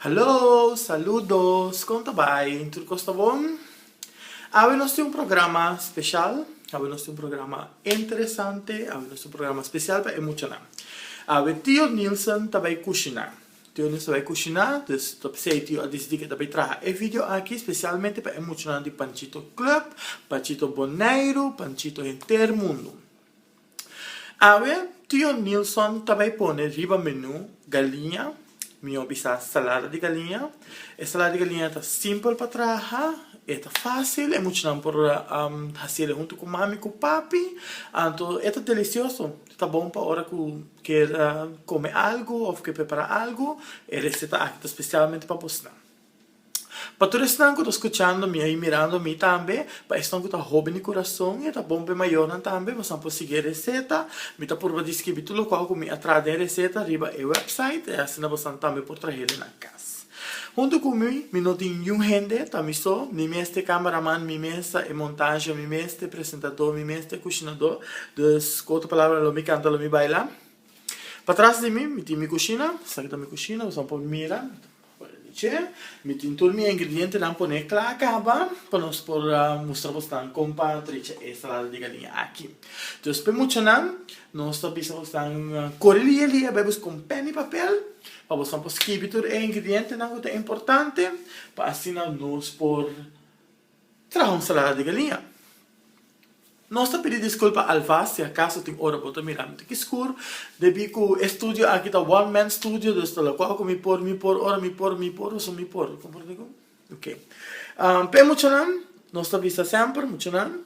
Hallo, saludos, kon ta bai? Tur kos ta bon? Awe nos tin un programa speshal, awe nos tin un programa interesante, awe nos tin un programa speshal pa e muchanan. Awe Tio Nilson ta bai kushiná, Tio Nilson ta bai kushiná, dus ta p'esei e tio a disidí ku e ta bai traha e video aki spesialmente pa e muchanan di Panchito Club, Panchito Boneiru, Panchito henter mundu. Awe Tio Nilson ta bai pone riba menú galiña, mihó bisa salada di galiña. E salada di galiña ta simpel pa traha, e ta fásil, e muchanan por hasi el huntu ku mami ku papi. Anto e ta delisioso, ta bon pa ora ku kier kome algu òf kier prepará algu. E reseta aki ta spesialmente pa bosnan. Pa tur esnan ku ta skuchando mi ai, mirando mi tambe, pa esnan ku ta hoben di kurason i e ta bon pa e mayornan tambe, bosan por sigui e reseta. Mi ta purba diskribi tur lokual ku mi a traha den reseta riba e wèpsait, i asina bosan tambe por traha den nan kas. Huntu ku mi, mi no tin niun hende, ta mi so, mi mes ta e kámaraman, mi mes ta e montasha, mi mes ta e presentadó, mi mes ta e kushinadó, dus ku otro palabra lo mi kanta lo mi baila. Pa tras di mi, mi tin mi kushina, esaki ta mi kushina, bosan por mira. Wèl, mi dje, mi tin tur mi ingredientenan pon'é kla kaba pa nos por mustra bosnan kon pa trecha e ensalada di galiña aki. Dus p'e muchanan, nos ta bisa bosnan kore lia lia bai bus kon pèn i papel pa bosnan por skibi tur e ingredientenan ku ta importante pa asina nos por. Traha un salada di galinha. Nos ta pidi disculpa alvas si acaso tin ora bo ta mira mi ta ki skur, debi cu e studio aki ta one man studio dus ta loco cu mi por, mi por, ora mi por, mi por, so mi por. Comprende cu? Ok. P'e muchanan, nos ta bisa semper, muchanan.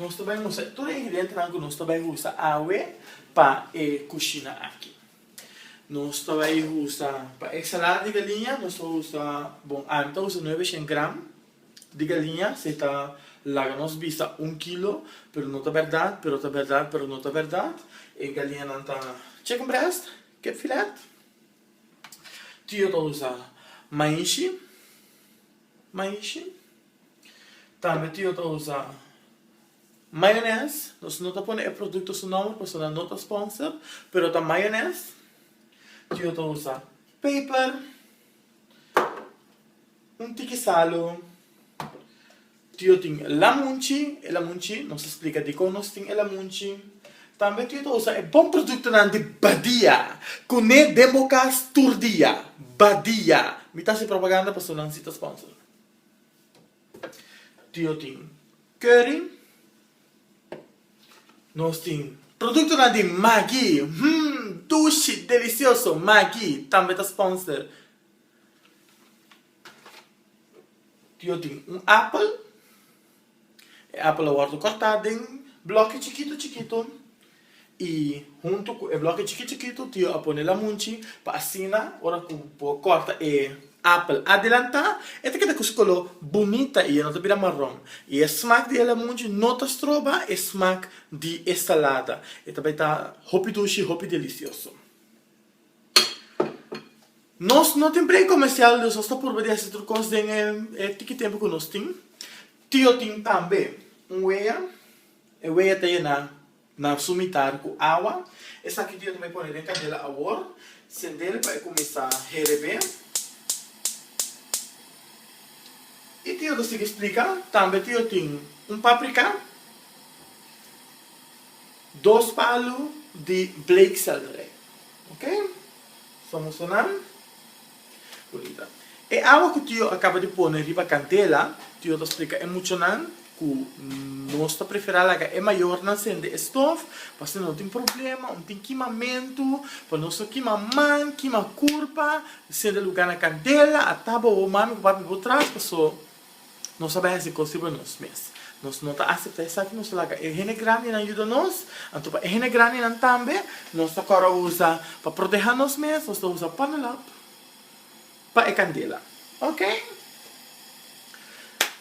Nos ta bai usa tur e ingredientenan ku nos ta bai usa awe pa e kushina aki. Nos ta bai usa, pa e ensalada di galiña nos ta usa, bon ami ta usa nueve shen gram di galiña, si ta laga nos bisa un kilo, pero no ta bèrdat, pero ta bèrdat, pero no ta bèrdat. E galiñanan ta chicken breast, kip filet. Tin yo ta usa maishi, maishi. Tambe tio ta usa mayones, nos no ta pone e producto su nomber pasobra nan no ta sponsor, pero ta mayones, tio ta usa peper, un tiki salu, tio tin lamunchi, e lamunchi nos ta splica dikon nos tin e lamunchi, tambe tio ta usa e bon productonan di Badia, cune den bo cas tur dia, Badia, mi ta haci propaganda pasobra nan si ta sponsor. Tio tin keuring. Nos tin produktonan di Maggi, hum dushi, delisioso, Maggi tambe ta sponsor. Tio tin un apel. E apel a wòrdu kòrtá den blòkki chikitu chikitu i huntu ku e blòkki chikitu chikitu tio a pone lamunchi pa asina ora ku bo kòrta e apel adelantá e ta keda ku su koló bunita i e no ta bira maron i e smak di e lamunchi no ta stroba e smak di e salada e ta bai ta hopi dushi hopi delisioso. Nos no tin plen comercial dus nos ta purba di hasi tur cos den e tiki tempo cu nos tin. Tio tin tambe un wea, e wea ta yena nan su mitar cu awa, esaki tio ta bay pone den candela awor, cendel pa e cuminsa herebe, y tio ta sigui splica tambe tio tin un paprica, Dos palu di bleekselderij. Ok. Somos sunan. Bonita. E awa ku Tio a kaba di pone riba kandela, Tio ta splika e muchanan ku nos ta preferá laga e mayornan sende e stof, pasobra no tin problema, no tin kimamentu, pa nos no kima man, kima kurpa, sende lugá na kandela, a ta bo, bo mami ku papi bo tras, paso. Nos a bai hasi cos riba nos mes. Nos no ta acepta esaki, nos ta laga e hende grandinan yuda nos, anto pa e hende grandinan tambe nos ta cora usa pa proteha nos mes, nos ta usa panelop pa e candela. Ok.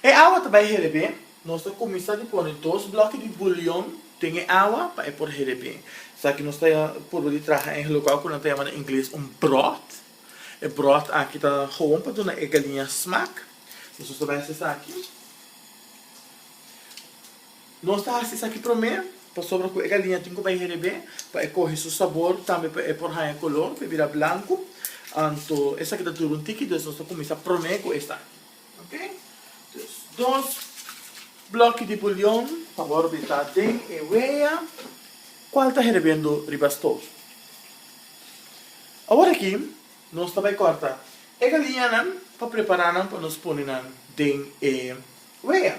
E awa ta bai herebe, nos ta cuminsa di pone dos bloki di bouillon den e awa pa e por herebe. Esaki nos ta purba di traha en e lugau cu nan ta yama na ingles un broth. E bròt aki ta gewoon pa duna e galiña smak. Nos ta mester esaki. Nos ta hasi esaki promé pasobra ku e galiña tin ku bai herebé pa e kohe su sabor, tambe pa e por haña kolor, pa e bira blanku. Anto esaki ta dura un tiki, dus nos ta kuminsá promé ku esaki. Ok dus dos bloki di bulion ta wòrdu bitá den e wea kual ta herebendu riba stof. Awor aki nos ta bai kòrta e galiñanan pa prepará nan pa nos pone nan den e wea.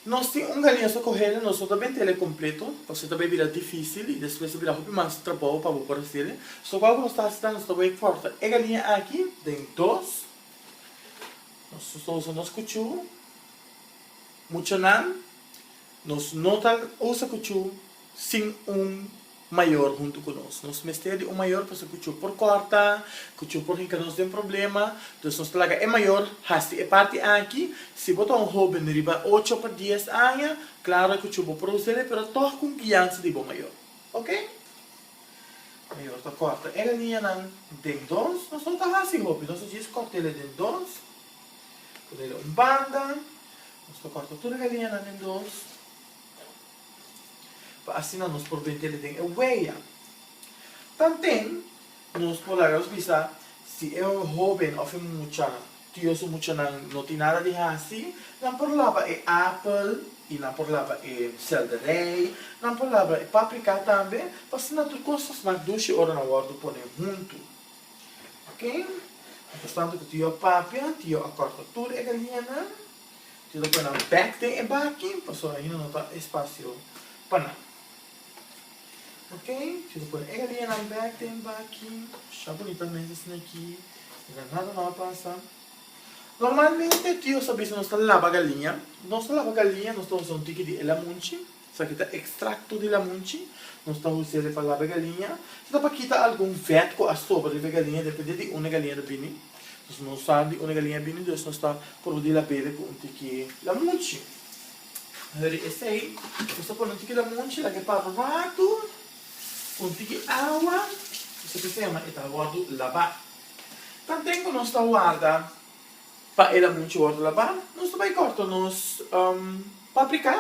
Nos tin un galiaso ku hende nos no ta bin tele kompleto pasobra ta bin bira difísil i despues ta bira hopi mas trabou pa bo por hasel'e. So kua ku nos ta hasi ta nos ta wak kòrta e galiña aki den dos, nos ta usa nos kuchu, muchanan nos no ta usa kuchu sin un. mayor huntu cu nos. Nos mester di un mayor pasobra cu cu por corta, cu cu por hinca nos den problema. Dus nos ta laga e mayor hasti e parti aki. Si bo ta un hoben riba ocho pa dies aña, claro cu cu bo por hus'e, pero tog con guianza di bo mayor. Ok? Mayor ta corta e ganianan den dons. Nos no ta hasi hopi, nos ta djis cort'ele den dons. Ponele un banda. Nos ta corta tur e ganianan den dons. pa asina nos por brinca di den e wea. Tambe nos por laga nos bisa si e hoben of e mucha, tio su muchanan no tin nada di hasi, nan por laba e apel y nan por laba e selderij, nan por laba e paprika tambe, pa asina tur cos ta snak dushi ora nan wordo pone hunto. Ok, importante cu tio a papia, tio a corta tur e galinanan. Yo ta pone nan bek den e baki pasobra ahinda no ta espasio pa nan. Ok, yo ta pone e galianan bek den baki, sha bunita mes esnan aki, no ta nada mal pasa. Normalmente tio nos ta bisa nos ta laba galia, nos ta laba galia nos ta usa un tiki di el amunchi. Sa ki ta ekstrakto di lamunchi? Nos ta usa e palabra galiña si ta pa kita algun vèt ku a sobra riba e galiña depende di unda e galiña ta bini. Nos no sa di unda e galiña bini dus nos ta por di la bebe ku un tiki lamunchi. Hurry esei nos ta pone un tiki lamunchi laga e papa ratu ku un tiki awa esei ta siña ma e ta wòrdu labá. Tanten ku nos ta warda. Pa e laba mucha wortel laba nos ta bai corta nos paprika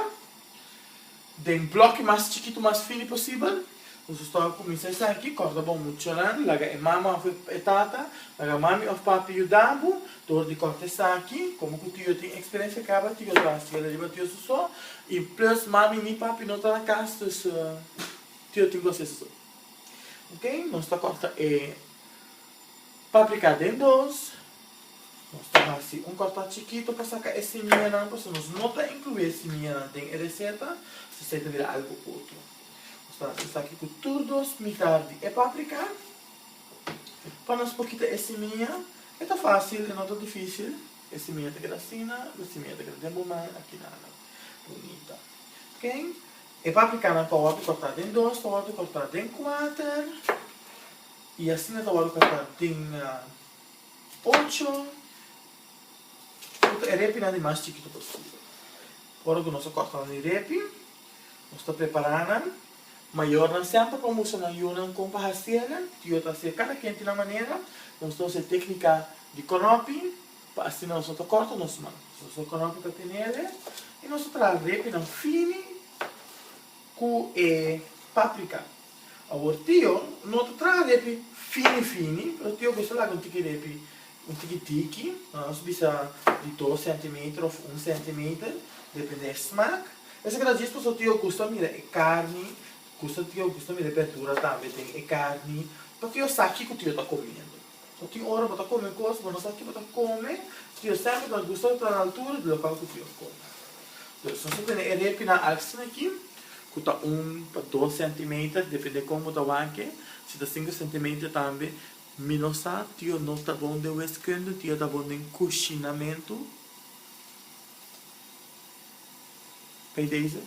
den bloki mas chikito mas fini posibel nos ta stòp cuminsa esaki corta bo muchanan laga e mama of e tata laga mami of papi yuda bo dor di corta esaki como cu tio tin experiencia caba tio lo hacia la riba tio soso y plus mami ni papi no ta na cas dus tio tin cu hacia soso ok nos ta corta e Paprika den dos, nos ta hasi un kòrtá chikito pa saka e simiñanan pasobra nos no ta inkluí e simiñanan den e reseta, so esei ta bira algu otro. Nos ta hasi esaki ku tur dos mitá di e paprika pa nos por kita e simiña, e ta fásil e no ta difísil, e simiña ta keda asina, e simiña ta keda den bo man aki nada bunita. Ok, e paprikanan pa wòrdu kòrtá den dos, pa wòrdu kòrtá den kuater. Y asina ta wòrdu papá tin ocho, puta e repinan di mas chikito posible. Ora cu nos a corta nan di repi, nos ta prepara nan, mayornan semper por mustra nan yunan con pa haciela, tio ta hacia cada kende na manera, nos ta usa e tecnica di konopi pa asina nos no ta corta nos man, nos ta usa konopi pa tenele, y nos ta traha repinan fini cu e paprica. Awor tio no ta traha nepi fini fini pero tio gusta laga un tiki repi un tiki tiki nos bisa di dos centimeter of un centimeter depende e smaak esaki ta djis paso tio gusta mira e carni gusta tio gusta mira e berdura tambe den e carni pa tio sa kico tio ta comiendo. Cu tin ora bo ta come cos, bo no sa kico bo ta come, si yo semper ta gusta di ta na altura di local cu Dios come. Entonces, nos ta tene e repi nan aksten aki, cu ta un pa dos centimeter, depende con bo ta wak-e, si ta cinco centimeter tambe, mi no sa, tio no ta bon den weskunde, tio ta bon den cushinamentu, Bij deze,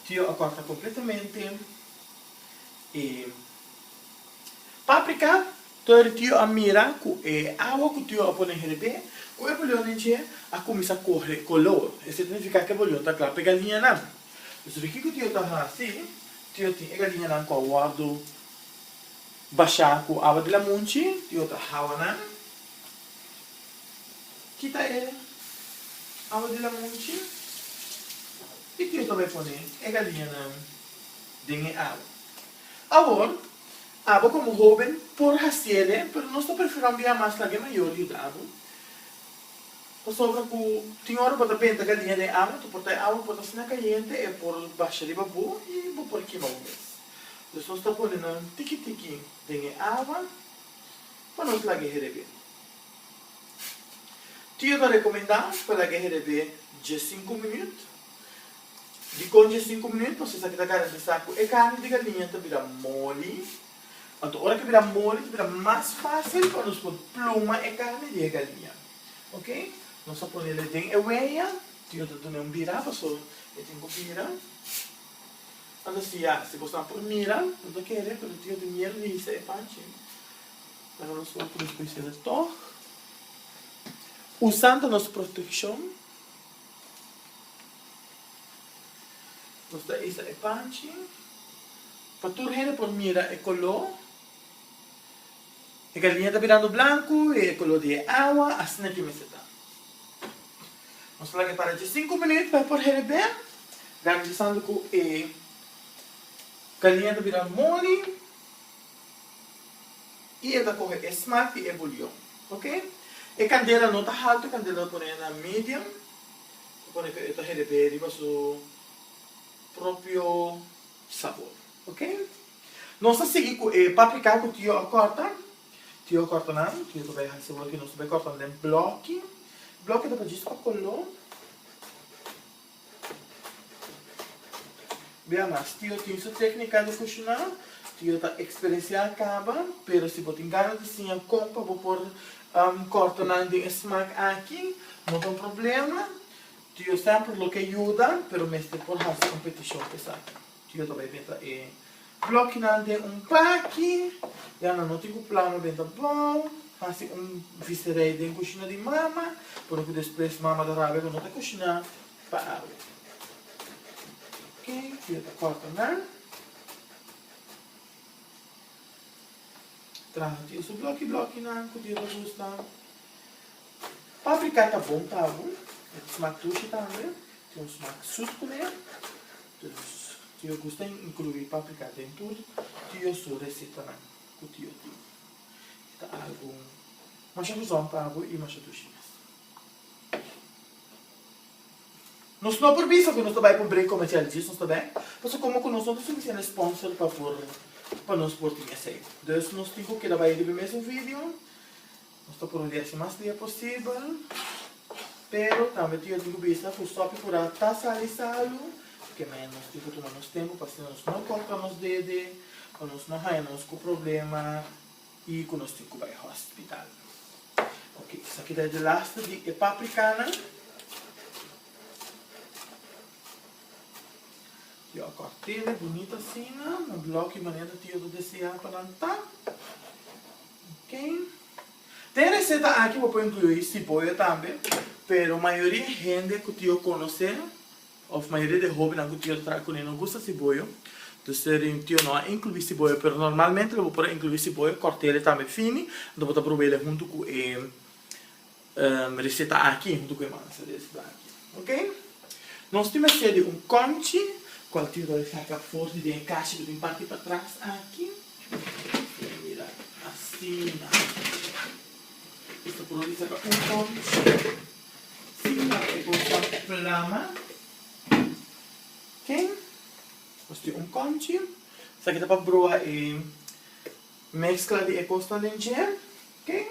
tio a corta completamente e. Paprika, Tur tio a mira ku e awa ku tio a pone her'é ku e bulionnan dje a kuminsá kohe kolor. Esei ta nifiká ku e bulion ta kla pa e galiñanan. Pues ora kiko tio ta hasi? Tio tin e galiñanan ku a wòrdu bashá ku awa di lamunchi, tio ta hawa nan, kita e awa di lamunchi i tio ta bai pone e galiñanan den e awa. Awor, abo komo hóben por hasiéle, pero nos ta preferá un biaha mas laga e mayor yuda abo. Pasobra ku tin ora bo ta benta galinha den e awa, ta por ta e awa por ta asina kayente, e por basha riba bo i bo por kima bo mes. Dus nos ta pone nan tiki tiki den e awa pa nos laga e herebé. Tio ta rekomendá pa laga e herebé dje sinku minüt. Dikon dje sinku minuut nos esaki ta garantisa ku e karni di galiña ta bira moli. Anto ora ke bira moli ta bira mas fásil pa nos por pluma e karni di e galiña. Ok, nos a pone le den e weya, tin no ta duna un bira paso e tin ku bira. Nan ta siña, si bo sa por mira, no ta kere, pero tin no tin mier risa e panchi. Nan a nos hopi ku nos puede ser tòg. Usando nos protekshon. Nos ta isa e panchi pa tur hende por mira e koló. E galiña ta birando blanku i e koló di e awa asina ke mester ta. Nos ta laga e para dje sinku minüt pa e por hende ben, garantisando ku e galiña ta bira moli. y e ta coge e smaak di e bouillon ok e candela no ta halto e candela lo pone na medium lo pone cu e ta hereber riba su propio sabor ok nos ta sigui cu e paprika cu tio a corta tio a corta nan tio ta bay haci awor cu nos ta bay corta nan den bloki bloki ta bay djis pa color Bia mas, tio tin su téknika di kushiná. Tio ta eksperensiá kaba, pero si bo tin gana di siña kon pa bo por kòrta nan den e smak aki, no ta un problema. Tio sèmpre lo ke yuda, pero mester por hasi kompetishon pa esaki. Yo ta bai benta e blòkinan den un paki, ya nan no tin ku plano benta bou, hasi un viserij den kushina di mama, por ku despues mama ta rabia ku no ta kushiná pa awe. Ok, yo ta kòrta nan, traha tin su blòki blòkinan ku di ta gusta. Paprika ta bon pa bo, e ta smak dushi tambe, tin un smak sùt kuné. Tio Gus ta inkluí paprika den tur tio su resetanan ku tio tin. E ta algu masha guzon pa bo i masha dushi mes. Nos no por bisa ku nos ta bai pa un brek komersial djis nos ta bai, pasobra komo ku nos no tin sufisiente sponsor pa por pa nos por tin esei. Dus nos tin ku keda bai riba mes un video. Nos ta por un biashi mas lia posibel, pero tambe tin yo tin ku bisa ku stòpi ku ra ta sali salu, paske men nos tin ku tuma nos tempu pa asina nos no kòrta nos dede, pa nos no haña nos ku problema i ku nos tin ku bai hòspital. Oke, esaki ta e di laste di e paprikanan. Yo a kòrtel e bunita asina, na blòk i manera tin yo ta deseá pa nan ta. Den e reseta aki bo por inclui si boyo tambe, pero mayoria hende cu tio conoce of mayoria di e hobennan cu tio ta traha cun'e no gusta si boyo, dus e rin tio no a inclui si boyo, pero normalmente lo bo por a inclui si boyo, cort'e tambe fini, enton bo ta probae hunto cu e. Reseta aki huntu ku e mansa des blanki. Ok. Nos tin mester di un konchi kual tin roi saka for di den e kashi ku tin parti patras aki. Dea mira asina. Esta por di saka un konchi sin laga e kosnan flama. Ok. Nos tin un konchi. Esaki ta pa broha e meskla di e kosnan den dje. Ken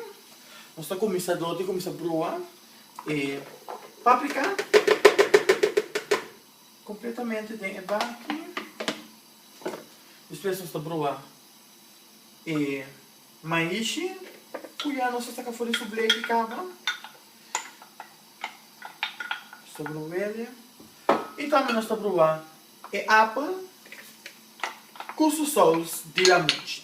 nos ta kuminsá dor di kuminsá brua e paprika kompletamente den e baki. Despues nos ta brua e maishi ku ya nos a saka for di su bleki kaba. Nos ta bruwele. I tambe nos ta brua e apel ku su sous di lamuchi.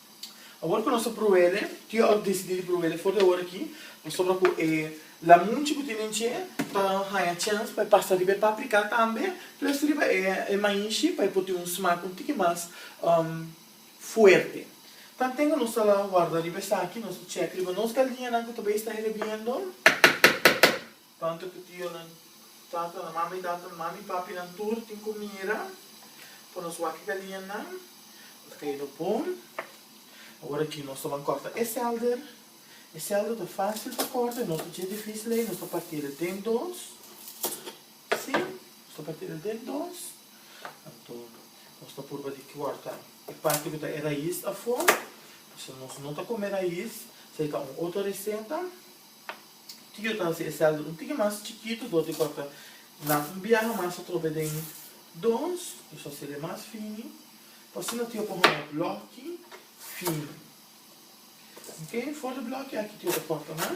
Awor cu nos ta pruele, tio a decidi di pruele for di awor aki, pasobra cu e lamunchi cu tinen dje ta haya chance pa e pasa riba e paprika tambe, plus riba e maishi pa e por tin un smaak un tiki mas fuerte. Tanten cu nos ta warda riba esaki, nos ta checa riba nos galdiñanan cu ta bay sta herbiendo. Tantu ku tionan, tatanan, mama i tatanan, mama i papinan tur tin ku mira pa nos wak i galianan. Nan ta kayendo bon. Awor aki nos ta ban kòrta e sèlder. E sèlder ta fásil pa kòrta i no ta dje difísil ei. Nos ta parti el den dos. Sí, nos ta parti el den dos. Anto nos ta purba di kòrta e parti ku ta e rais afó. Pasobra nos no ta kome rais. Esei ta un otro reseta. Tio ta hasi e celda un tiki mas chikitu dor di kua ta na un biaha mas atrobe den dons nos ta hasi el e mas fini pa asina tio por hona bloki fini ok for di bloki aki tio ta korta nan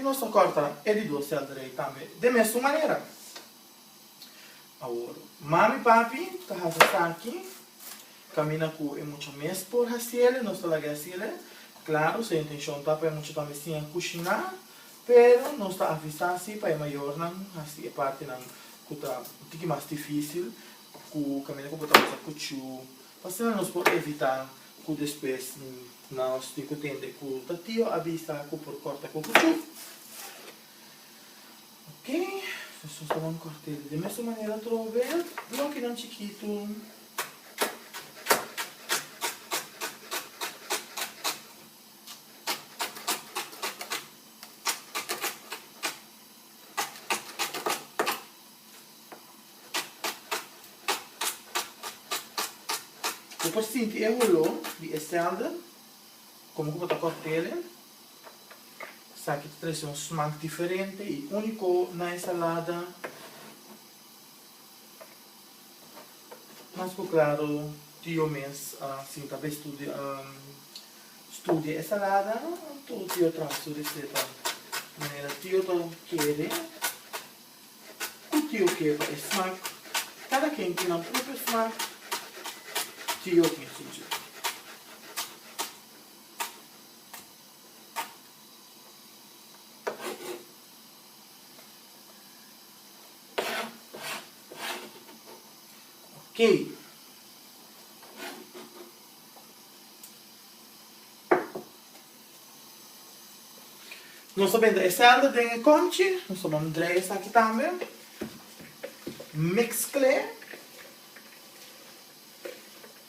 I nos ta kòrta e di dos sèl drei tambe den mesun manera. Awor, mami papi ta hasi esaki, kaminda ku e mucha mes por hasiel i nos ta laga hasil e. Klaru, se intenshon ta pa e mucha tambe siña kushiná, pero nos ta avisá si pa e mayornan hasi e partinan ku ta un tiki mas difísil, ku kaminda ku bo ta usa kuchu pa asina nos por evitá ku despues nos tin ku tende ku ta tio a bisa ku por kòrta ku kuchu. Oke, nos ta usa wan kòrtel di mester manera atrobe, blokinan chikitu. Bo por sinti e holó di e sèlde, komo ku bo ta kòk tele. Esaki ta trese un smak diferente i úniko na e salada. Mas ku klaro, tio mes a sinta pa e studia studia e salada. Tur tio traha su reseta manera tio ta kere. Cu tio ke pa e smak? Cada ken tin nan propio smak, tio tin susu. Okey. Nos ta benda eselde den e konchi. Nos ta bondrei esaki tambe. Meskle.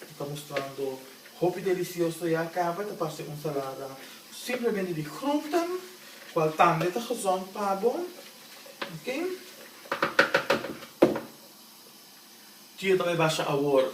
E ta mustrando hopi delisioso ya kaba. E ta parse un salada simplemente di grunten, kual tambe ta gezond pa bo. Ok. Tio tambe basha awor.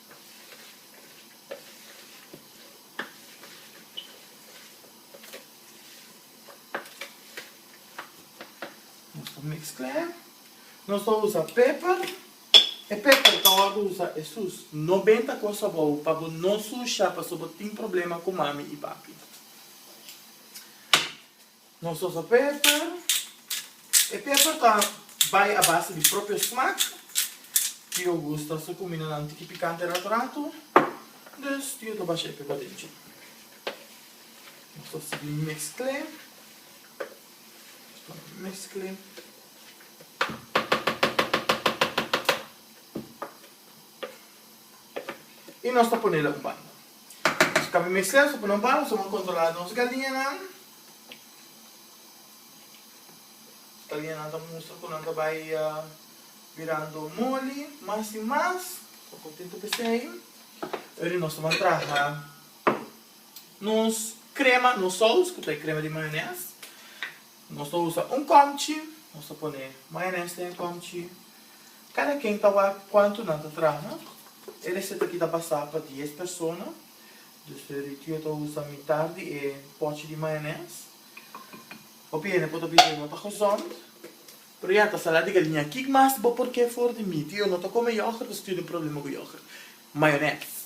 Nos ta mezcla, nos ta usa peper, e peper ta wordo usa esus, no benta cos abou pa bo no susha paso bo tin problema cu mami y papi. Nos usa pepper. E pepper ta bai a base di propio smaak. Tio gusta su cuminanan tiki picante rato rato, dus tio ta basha e pepper den cu. Nos ta sigui mezcle, nos ta mezcle. Y nos ta ponela un banda. Escape mester so poné un bala so bo controla nos galiñanan. Nos galiñanan ta mustra cu nan ta bay birando moli mas y mas. Cu contento p'esey. Oye nos ta traha nos crema, nos saus cu ta e crema di mayones. Nos ta usa un comchi, nos ta pone mayones den e comchi. Kada ken ta wak kuantu nan ta traha. E reseta aki ta basá pa dies persona. Dus Rutio yo ta usa mitar di e pòchi di mayones. Hopi hende por ta bisa no ta gezond. Pero ya, ta salá di galiña. Kik mas bo por ke for di mi? Ti yo no ta kome yògert, pasobra tin un problema ku yògert. Mayones.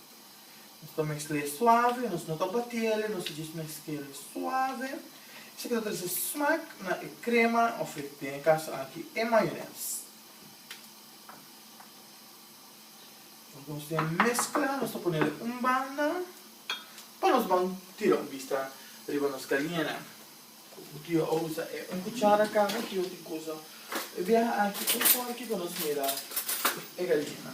Nos ta mesk'l'e suave, nos no ta bati'el, nos ta djis mesk'el suave. Esaki ta trese smak na e krema òf e te, n'e kaso aki e mayonès. Ora ku nos tin e meskla, nos ta pone'l un banda pa nos ban tira un bista riba nos kaliena. Ku tio a usa e un kuchara kaba, tio tin ku usa e biaha aki un forki pa nos mira e kaliena.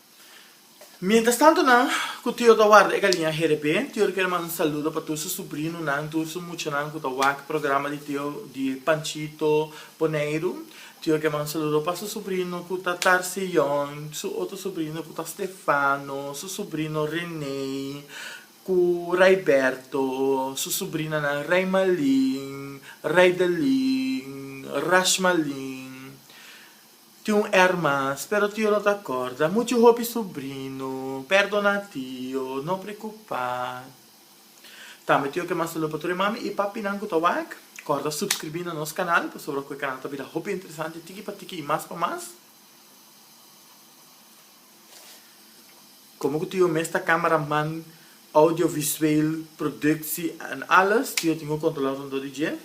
Mientras tanto nan cu Tio ta warda e galiña GDP, Tio ta kere manda un saludo pa tur su subrinonan, tur su muchanan cu ta wak programa di Tio di Panchito Boneiru. Tio ta kere manda un saludo pa su subrino cu ta Tarcion, su otro subrino cu ta Stefano, su subrino Rene cu Raiberto, su subrinanan Raimalin, Raidelin, Rashmalin. Tin un erman, spero tio no ta corda, muchu hopi subrino, perdona tio, no preocupa. Tambe tio ke manda salu pa tur e mami i papinan ku ta wak, corda subscribi na nos canal, pasobra ku e canal ta bira hopi interesante tiki pa tiki i mas pa mas. Como ku tio mes ta camera man, audio visueel, productie en alles, tio tin ku controla rondó di dje.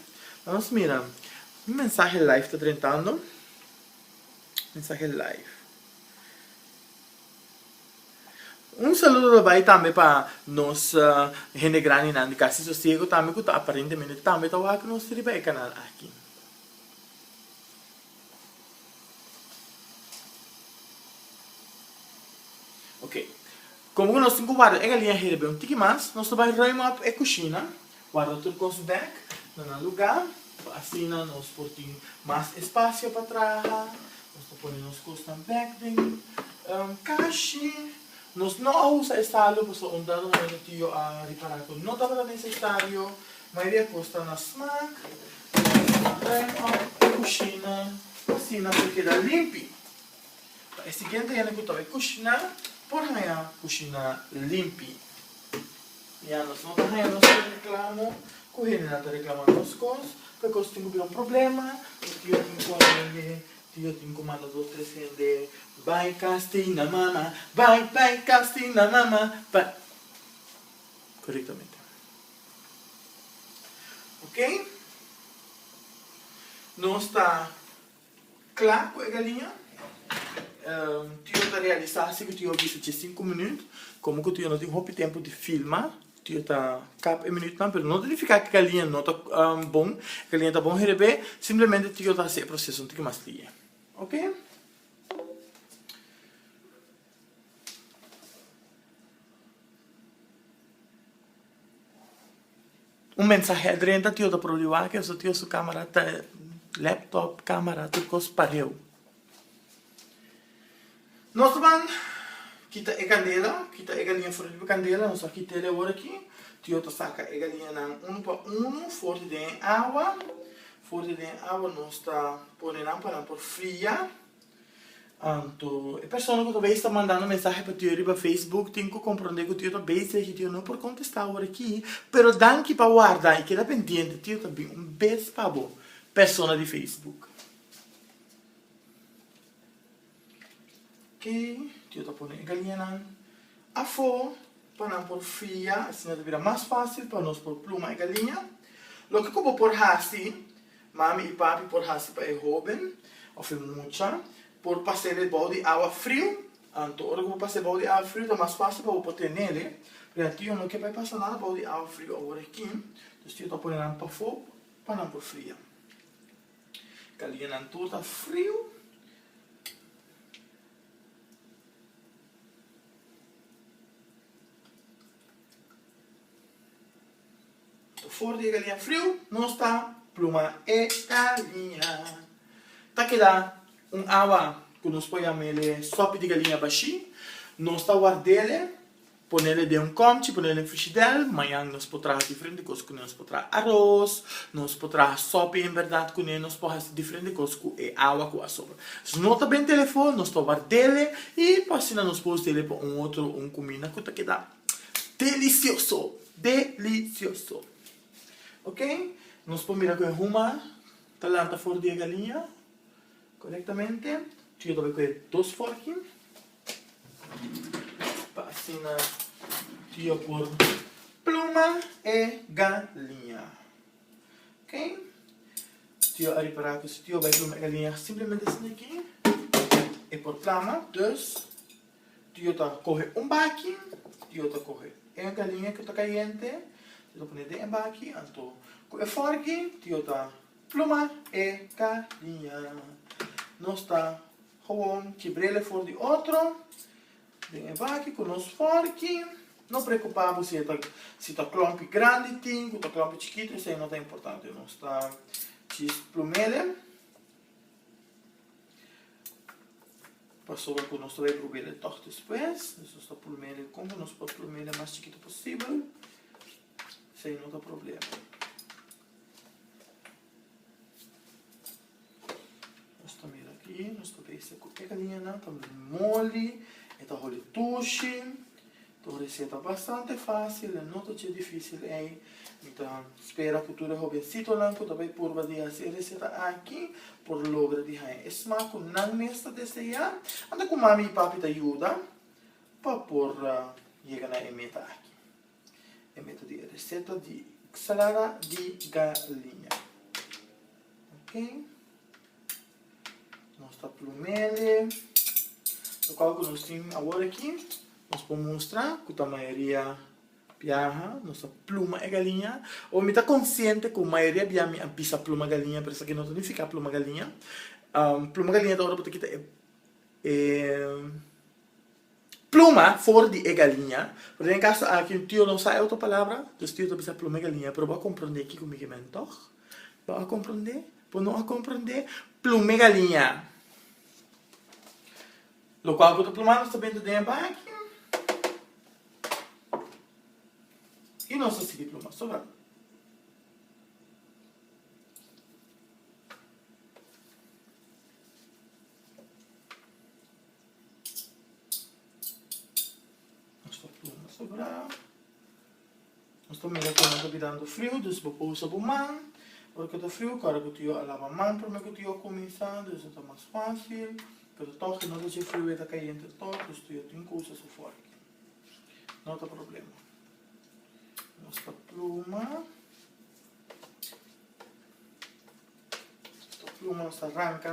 Lanos mira, mi mensahe live ta drentando. Mensahe live. Un saludo ta bai tambe pa nos hende grandinan di Casi Sosiego tambe cu ta aparentemente tambe ta wak nos riba e canal aki. Ok. Komo ku nos tin ku warda e galinha heda bia un tiki mas, nos ta bai ruim op e kushina, warda tur kos bèk na nan lugá, pa asina nos por tin mas espasio pa traha, nos ta pone nos kosnan bèk den kashi, nos no a usa e salu pasobra un dado momento tio a ripará ku no tabata nesesario, mayoria kos ta na smak, nos ta bai ruim op e kushina pa asina por keda limpi. Pa e siguiente hende ku ta bai kushiná por haña kushiná limpi. Ya nos no ta haña nos e reklamo ku hendenan ta reklama nos kos, prekos tin ku bira un problema, mi tio tin ku a hende, tio tin ku manda dos tres hende bai kas tin na mama, bai bai kas tin na mama, bai. Korektamente. Oke? Nos ta. Kla ku e galiña. Tio ta realisa si ku tio bisa dje sinku minüt. Komo ku tio no tin hopi tempu di filma, tio ta kap e minütnan. Pero no ta nifiká ku e galiña no ta bon. E galiña ta bon herebé, simplemente tio ta hasi e proseso un tiki mas lihe. Oke. Un mensahe drenta tio ta por riba ke su tio su camera ta laptop camera tur cos pareu nos ta ban kita e candela kita e galinha for riba candela nos a kit'el e ora aki tio ta saca e galinha nan uno pa uno for di den e awa for di den e awa nos ta pone nan pa nan por fria. Anto, e persona ku ta bai sta mandando mensahe pa ti yo riba Facebook tin ku kompronde ku ti yo ta beisig i ti yo no por kontestá awor aki, pero danki pa warda i keda pendiente, ti yo ta bin un bes pa bo, persona di Facebook. Oke, ti yo ta pone e galianan afó pa nan por fria, asina ta bira mas fásil pa nos por pluma e galia. Loke ku bo por hasi. Mami i papi por hasi pa e hóben òf e mucha por paséle bou di awa friu. Anto ora ku bo pas'é bou di awa friu ta mas fásil pa bo por tenele. Pasobra tio no ke pa e pasa nada bou di awa friu awor aki. Entonces tio ta pone nan pafó pa nan por fria. Kalia nan tur ta friu. For di e galiña friu nos ta pluma e galiña. Ta keda un awa ku nos por yama el e sopi di galiña bashí. Nos ta ward'e, ponel den un kòmchi, ponel den frishidèr. Mañan nos por traha diferente kos kuné. Nos por traha aros, nos por traha sopi en bèrdat kuné, nos por hasi diferente kos ku e awa ku a sobra. Si no ta b'en telefòn, nos ta ward'e i asina nos por us'e pa un otro un kuminda ku ta keda. Delicioso! Delicioso! Ok, nos por mira cu e huma ta lanta for di e galiña corectamente. Ch'e tabata cu e dos forchi, pa asina yo por pluma e galiña. Ok, yo a ripara cu si yo bai pluma e galiña simplemente asina aki, e por plama. Dus. Tio ta coge un baki, tio ta coge e galinha cu ta cayente, tio ta pone den e baki, anto cu e forgi tio ta pluma e galinha. Nos ta gewoon kibrele for di otro den e baki cu nos forgi, no preocupa bo si e ta si ta clompi grandi tin cu ta clompi chikito esai no ta importante, nos ta chis plumele. Pasobra cu nos ta bay brubele tog despues, dus nos ta plumele con cu nos por plumele mas chikito posibel, esey no ta problema. Nos ta mira aki, nos ta bay esey cu e cadenanan ta moli, e ta holi tushi, Ta un reseta bastante fácil, e no ta dje difícil ei. Mi ta spera cu tur e hobencitonan cu ta bay purba di haci e reseta aki por logra di haña e smaak cu nan mes ta deseá. Anda cu mami i papi ta yuda pa por yega na e meta aki. E meta di e reseta di Salada di Galiña. Ok. Nos ta plumende. Lokal ku nos tin awor aki, nos por mustra ku ta mayoria biaha nos ta pluma e galiña. Awor mi ta konsiente ku mayoria bia mi a bisa pluma galiña, pero esaki no ta nifiká pluma galiña. Pluma galiña ta ora bo ta kita e. Pluma for di e galiña. Pero den e kaso aki un tio no sa e otro palabra, dus tio ta bisa pluma e galiña. Pero bo a komprondé kiko mi ke mende, tòg? Bo a komprondé? Bo no a komprondé? Pluma e galiña. Lokual ku ta pluma nos ta bini den e baki i nos ta sigui pluma so nan. Nos ta pluma esta brao. Nos ta mira cu nan ta bidando friu, dus bo pousa bo man. Ora cu ta friu, cara cu tio a laba man prome cu tio a cuminsa, dus a ta mas facil. Pero toch e noche dje friu e ta cay entre toc, dus tio tin cosas afuera aki. No ta problema. Nos ta pluma. Nos ta pluma, nos ta ranca.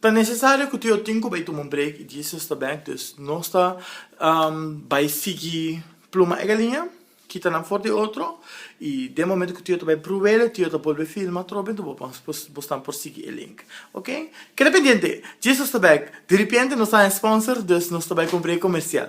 Ta nesesario cu Teo tin cu bay tuma un break y Jesus ta bek, dus nos ta bay sigui pluma e galinha, kita nan for di otro, y den momento cu Teo ta bay pruele, Teo ta bolbe filma atrobe, entos bo por bos nan por sigui e link, ok? Keda pendiente, Jesus ta bek, diripiente nos ta haña sponsor, dus nos ta bay cu un break comercial.